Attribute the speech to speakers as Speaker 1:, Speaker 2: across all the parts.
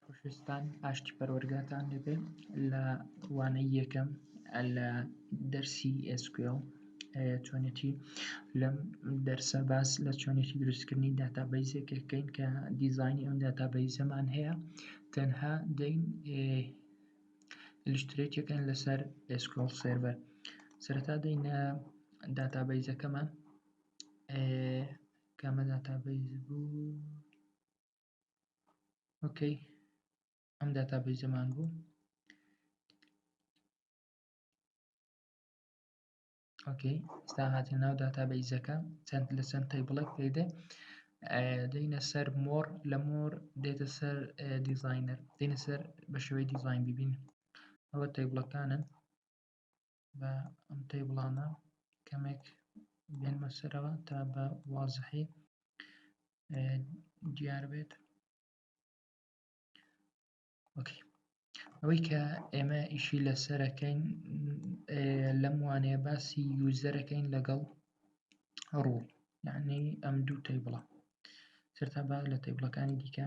Speaker 1: خۆشەویستان ئاشتی پەروەرگاتان لێ بێ لە وانەی یەکەم لە دەرسی SQL چۆنێتی لەم دەرسە باس لە چۆنێتی دروستکردنی داتابەیزێکەکەین کە دیزانی ئەم داتابەیزەمان هەیە تەنها دەین لشترێکەکەن لەسەر SQL سێرڤەر سەرەتا دەینە داتابەیزەکەمان کامە داتابەیز بوو ئۆکەی ئەم داتا بەیزەمان بوو ئۆکەی ستا هاتە ناو داتا بەیزەکە چەند لە چەند تای بڵێک پێدە دەینە سەر مۆر لە مۆر دێتە سەر دیزینەر دێنە سەر بە شێوەی دیزین ببین ئەوە تای بڵەکانن بە ئەم تەیبڵانە کەمێک بێنمە سەرەوە تا بە وازحی دیار بێت وەکی ئەوەی کە ئێمە ئیشی لەسەرەکەین لەم وانەیە باسی یوزەرەکەین لەگەڵ ڕوو یعنی ئەم دوو تەیبڵە سەرتا با لە تەیبڵەکانی دیکە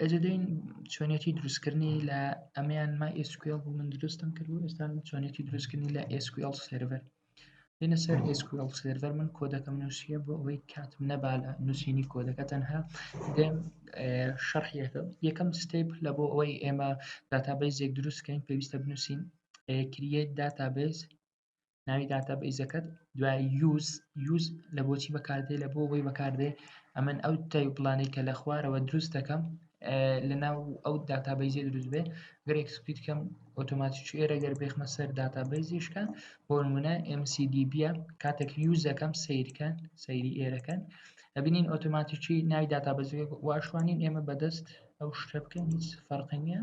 Speaker 1: ئەجدین چۆنێتی دروستکردنی لە ئەمیان ما ئسکل بوو من دروستم کرد و ئێستا چۆنێتی دروستکردنی لە ئسکل سرڤەر دێنە سەر ئسکل سرڤەر من کۆدەکەم نووسە بۆ ئەوەی کاتم نەبا لە نووسینی کۆدەکە تەنها دێم شەرحیەکە یەکەم ستیپ لە بۆ ئەوەی ئێمە داتابیزێک دروستکەین پێویستە بنووسین کریە داتابیز ناوی داتا بەیزەکەت دوای یوز یوز لە بۆچی بەکاردێ لە بۆ بۆی بەکاردێ ئەمن ئەو تای پلانەی کە لە خوارەوە دروست دەکەم لە ناو ئەو داتا بەیزێ دروست بێ گەر ئەکسپیت کەم ئۆتۆماتی چێرە گەر بێخمە سەر داتا بەیزیشکە بۆ نمونە MCDB کاتێک یوز دەکەم سیرکەن سەیری ئێرەکەن ئەبینین ئۆتۆماتیکی ناوی داتا بەزێ واشوانین ئێمە بەدەست ئەو شتە بکەین هیچ فەرقی نییە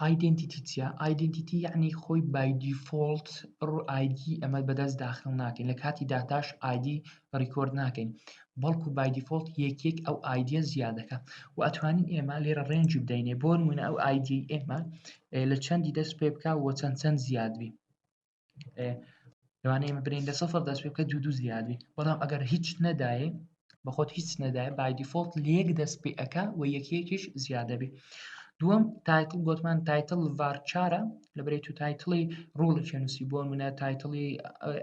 Speaker 1: ئایدێنتیتی چیە ئایدنتیتی یعنی خۆی بایدیفۆلت ڕ ئایدی ئەمە بەدەست داخل ناکەین لە کاتی داتاش ئایدی ڕیکۆرد ناکەین بەڵکو بایدیفۆلت یەکێک ئەو ئایدە زیادەکە و ئەتوانین ئێمە لێرە ڕێنجی بدەینێ بۆن منە ئەو ئایدی ئێمە لە چەندی دەست پێ بک و چەند چەند زیادبی لەوانەیە برین لە سەفر دەست پێ بکە دوو دوو زیادی بەڵام ئەگەر هیچ نەدایێ بەخۆت هیچ نەدایە بای دیفۆلت لەک دەست پێ ئەک و یەکێکیش زیادەبی دووەم تایتل گوتمان تایتل ڤارچارە لە بری تو تایتڵی ڕوڵی چێنوسی بۆ منە تایتڵی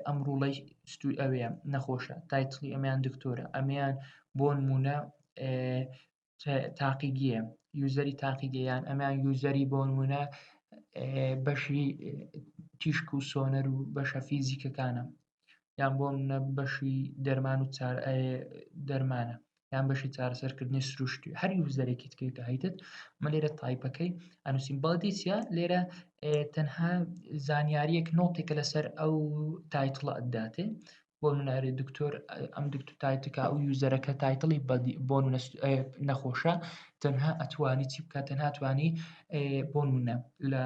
Speaker 1: ئەم ڕوڵی ستوی ئەوەیە نەخۆشە تایتڵی ئەمیان دکتۆرە ئەمیان بۆن مونە تاقیگیە یوزەری تاقیگەیان ئەمیان یوزەری بۆ نمونە بەشی تیشک و سۆنەر و بەشە فیزیکەکانە یان بۆ منە بەشی دەرمان و دەرمانە یان بەشی چارەسەرکردنی سروشتی هەر یوزەرێکی تکێکە هەیتت من لێرە تایپەکەی ئەنووسین بەڵدیسیە لێرە تەنها زانیاریەک نۆتێکە لەسەر ئەو تایتڵە ئەداتێ بۆ منە ئەرێ دکتۆر ئەم دکتۆر تایتکا و یوزەرەکە تایتڵی بۆ نەخۆشە تەنها ئەتوانی چی بکات تەنها توانی بۆ منە لە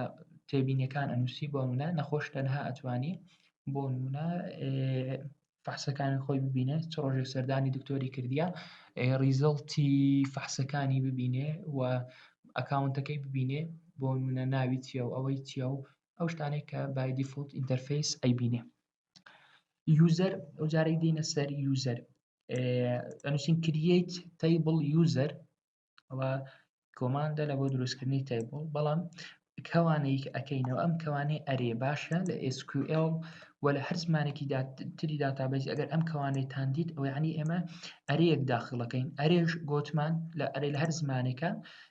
Speaker 1: تێبینەکان ئەنووسی بۆ منە نەخۆش تەنها ئەتوانی بۆ منە فحسەکانی خۆی ببینێ چ ڕۆژێک سەردانی دکتۆری کردیە ریزڵتی فحسەکانی ببینێ و ئەکاونتەکەی ببینێ بۆ منە ناوی چیە و ئەوەی چیە و ئەو شتانێک کە بای دیفلت ئینتەرفیس ئەیبینێ یوزەر ئەو جارەی دێنە سەر یوزەر ئەنووسین کریت تەیبڵ یوزەر ئەوە کۆماندە لە بۆ دروستکردنی تەیبڵ بەڵام کەوانەیەک ئەەکەینەوە ئەم کەوانەی ئەرێ باشە لە SQL و لە هەر زمانێکی تری داتابیز ئەگەر ئەم کەوانێتان دیت ئەوەیانی ئێمە ئەرەیەک داخڵەکەین ئەرێش گۆتمان لە ئەرێ لە هەر زمانێکە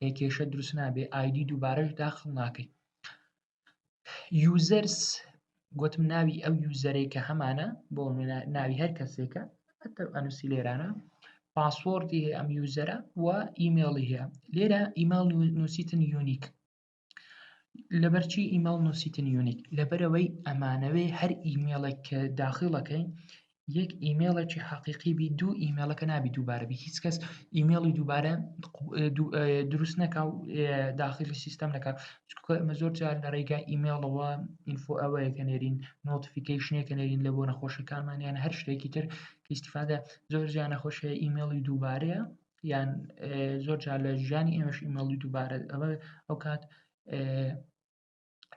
Speaker 1: ئێ کێشە دروست نابێ ئایدی دووبارەش داخڵ ناکەی یوزەرس گوتم ناوی ئەو یوزەرەی کە هەمانە بۆ ناوی هەر کەسێکە ئەتە ئەنووسی لێرانە پاسۆردی هەیە ئەم یوزەرە و ئیممەڵی هەیە لێرە ئیمال نووسیتن یونیک لەبەرچی ئیمەڵ نووسیتن یونیک لەبەرەوەی ئەمانەوێ هەر ئیمێڵێک کە داخیڵەکەی یەک ئیمێڵێکی حەقیقی بی دوو ئیمێڵەکە نابی دووبارەبی هیچ کەس ئیمێڵی دووبارە دروست نەکا و داخلی سیستەم نەکە ئەمە زۆر جار لە ڕێگا ئیمێڵەوە ئینفۆ ئەوەیە کە نێرین نۆتفیکیشنێک کە نێرین لە بۆ نەخۆشەکانمانیان هەر شتێکی تر کەیسیفادە زۆر جیان نەخۆشەیە ئیمێڵی دووبارەیە یان زۆر جار لە ژیانی ئێمەش ئیمەڵی دووبارە ئەوە ئەو کات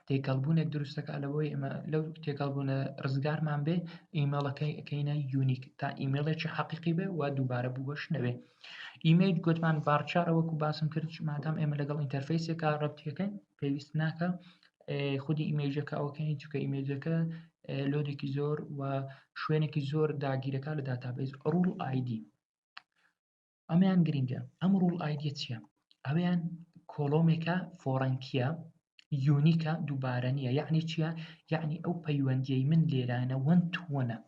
Speaker 1: تێکەڵبوونێک دروستەکە لەوەی ئێمە لەو تێکەڵبوونە ڕزگارمان بێ ئیمەڵەکەی ئەەکەینە یونیک تا ئیمەڵێکی حەقیقی بێ و دووبارە بووەش نەوێ ئیمەیل گوتمان بارچارە وەکو باسم کرد مادام ئێمە لەگەڵ ئینتەرفیسێکە ڕەتیەکەن پێویست ناکە خودی ئیمەیجەکە ئەوکەین چکە ئیمەیجەکە لۆدێکی زۆر و شوێنێکی زۆر داگیرەکە لە داتابیز ڕول ئایدی ئەمیان گرنگە ئەم ڕوڵ ئایدە چیە ئەویان کۆلۆمێکە فۆڕەنکیە یونیکە دووبارە نیە یعنی چیە یعنی ئەو پەیوەندیەی من لێرانە وەن تووەە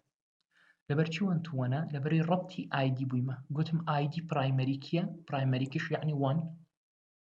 Speaker 1: لەبەرچی وەن تووەە لەبەری ڕەتی ئایدی بوویمە گوتم ئایدی پرایمەریکیە پرایمەریکیش یعنی وان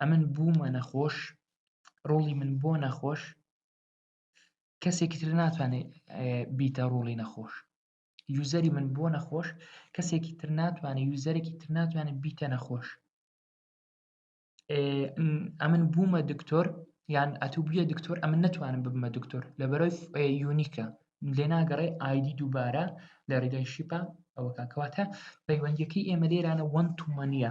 Speaker 1: ئەمن بوومە نەخۆش ڕۆڵی من بۆ نەخۆش کەسێکی تر ناتوانێت بیتە ڕۆڵی نەخۆش یوزەری من بۆ نەخۆش کەسێکی تر ناتوانێت یوزەرێکی تر ناتوانێت بیتە نەخۆش ئەمن بوومە دکتۆر یان ئەتو بە دکتۆر ئەمە نتوانم ببمە دکتۆر لە بەرەوەی یونیکە لێ ناگەڕێ ئایدی دووبارە لە ڕێگای شیپە ئەوەکە کەواتە پەیوەندیەکەی ئێمە لێرانە وەن تومەنە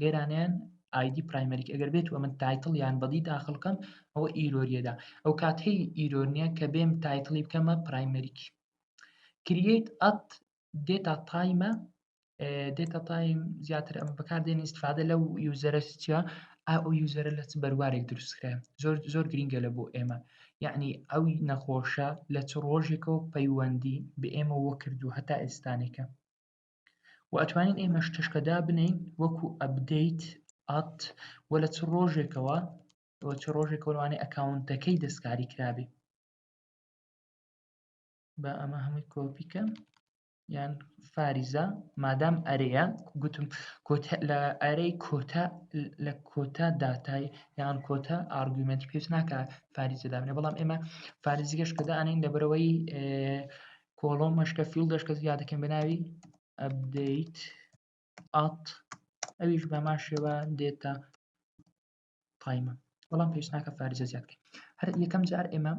Speaker 1: لێرانەیان ئایدی دی پرایمەریک ئەگەر بێت و من تایتڵ یان بەدی داخل بکەم ئەوە ئیرۆریەدا ئەو کات هی ئیرۆنیە کە بێم تایتڵی بکەمە پرایمەریک کریت ئەت دێتا تایمە دێتا تایم زیاتر ئەم بەکاردێن استفادە لەو یوزەرە چیا ئەو یوزەرە لە چ بەروارێک دروستکرا زۆر زۆر گرنگە لە بۆ ئێمە یعنی ئەو نەخۆشە لە چ ڕۆژێکەوە پەیوەندی بە ئێمە وەکردو هەتا ئێستانێکە وە ئەتوانین ئێمەش تشکە دابنێین وەکو ئەبدەیت ئات وە لە چ ڕۆژێکەوە وە چ ڕۆژێکەوە لەوانەیە ئەکاونتەکەی دەستکاری کرابێ با ئەمە هەمووی کۆپیکە یان فاریزە مادام ئەرەیە گوتم کۆتا لە ئەرەی کۆتا لە کۆتا داتای یان کۆتا ئارگومنتی پێویست ناکە فاریزە دابنێ بەڵام ئێمە فارزیگەش کە دانین لەبەرەوەی کۆڵۆم مەشکە فیل دەشکە زیاد دەکەین بە ناوی ئەبدەیت ئات ئەویش بەمان شێوە دێتە قایمە بەڵام پێشناکە فارزە زیاد بکەین هەر یەکەم جار ئێمە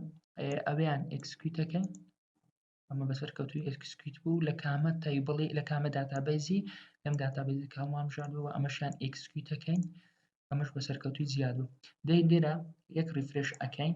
Speaker 1: ئەویان ئەکسکویت دەکەین ئەمە بەسەر کەوتوی ئەکسکویت بوو لە کامە تایبڵی لە کامە داتابەیزی لەم داتابەیزی کاڵمان بژاردەوە ئەمەشیان ئەکسکویت دەکەین ئەمەش بەسەر کەوتوی زیاد بوو دەی لێرە یەک ریفرش ئەەکەین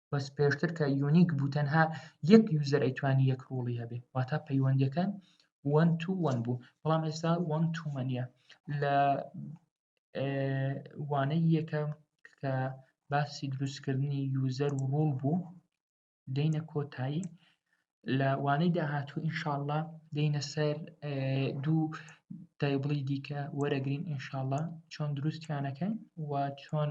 Speaker 1: بەس پێشتر کە یونیک بوو تەنها یەک یوزەر ئەیتوانی یەک ڕوڵی هەبێ واتا پەیوەندەکان وەن تو وەن بوو بەڵام ئێستا وەن تومەنە لە وانەی یەکەم کە باسی دروستکردنی یوزەر و ڕوڵ بوو دەینە کۆتایی لە وانەی داهاتوو ئینشاءله دەینە سەر دوو تایبڵی دیکە وەرەگرین ئینشاءله چۆن دروستیانەکەن و چۆن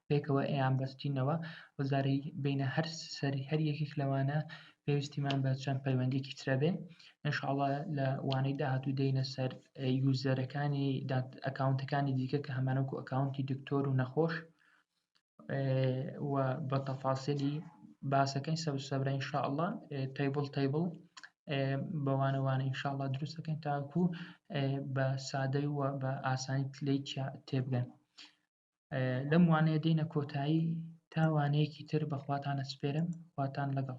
Speaker 1: پێکەوە ئەیان بەستینەوە و زارەی بینە هەر سەری هەر یەکێک لەوانە پێویستیمان بە چەند پەیوەندێکی ترە بێ انشاءڵە لە وانەی داهاتوو دەینە سەر یوزەرەکانی ئەکاونتەکانی دیکە کە هەمانەکو ئەکاونتی دکتۆر و نەخۆش و بە تەفاسیلی باسەکەی سەر سەبرە انشاءڵە تەیبڵ تەیبڵ بەوانەوانە انشاءڵە دروستەکەین تاکو بە سادەی و بە ئاسانی تلەی تێبگەن لەم وانەیە دێنە کۆتایی تا وانەیەکی تر بەخواتانە سپێرم خواتان لەگەڵ